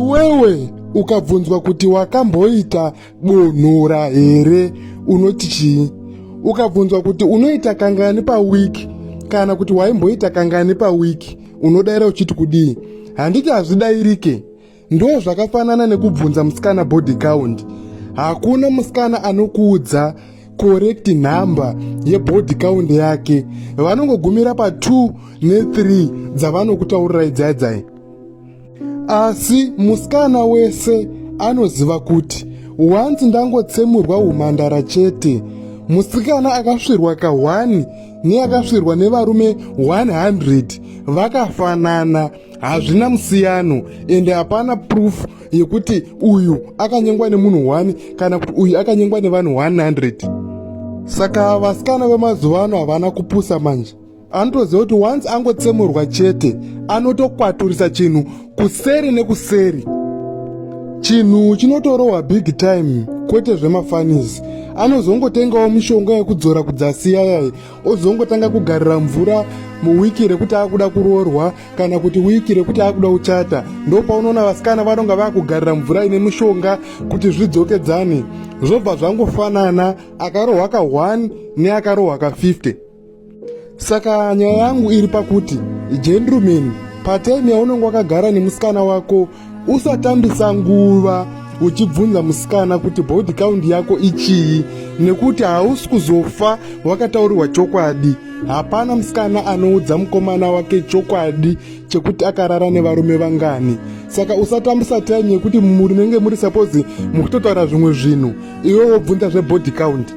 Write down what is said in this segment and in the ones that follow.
Iwewe ukabvunzwa kuti wakamboita bonhora here unoti chii? Ukabvunzwa kuti unoita kangani pawiki kana kuti waimboita kangani pawiki unodaira uchiti kudii? Handiti hazvidairike? Ndo zvakafanana nekubvunza musikana body count. Hakuna musikana anokuudza correct number yebody count yake. Vanongogumira pa 2 ne 3 dzavanokutaurirai dzaidzai. asi musikana wese anoziva kuti wanzi ndangotsemurwa umhandara chete musikana akasvirwa kahwani neakasvirwa nevarume 100 vakafanana hazvina musiyano ende hapana proof yekuti uyu akanyengwa nemunhu 1 kana kuti uyu akanyengwa nevanhu 100 saka vasikana vemazuva ano havana kupusa manje anotoziva kuti once angotsemurwa chete anotokwaturisa chinhu kuseri nekuseri chinhu chinotorohwa big time kwete zvemafanisi anozongotengawo mishonga yekudzora kudzasiya yaye ozongotanga kugarira mvura muwiki rekuti akuda kuroorwa kana kuti wiki rekuti akuda kuchata ndopaunoona vasikana vanonga vakugarira mvura ine mishonga kuti zvidzokedzane zvobva zvangofanana akarohwa ka 1 neakarohwa ka 50 saka nyaya yangu iri pakuti gentleman patime yaunenge wakagara nemusikana wako usatambisa nguva uchibvunza musikana kuti body count yako ichii nekuti hausi kuzofa wakataurirwa chokwadi hapana musikana anoudza mukomana wake chokwadi chekuti akarara nevarume vangani saka usatambisa time yekuti munenge muri suppose mukutotaura zvimwe zvinhu iwe wobvunza zvebody count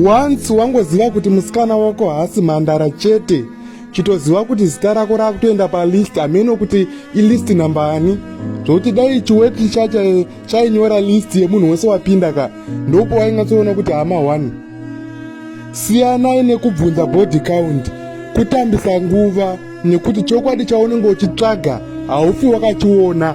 once wangoziva kuti musikana wako haasi mhandara chete chitoziva kuti zita rako rakutoenda palist hameno kuti ilist nambani zvokuti dai chiweti chacho chainyora list yemunhu wese wapinda ka ndopo waingatsoona kuti hama one siyanai nekubvunza body count kutambisa nguva nekuti chokwadi chaunenge uchitsvaga haufi wakachiona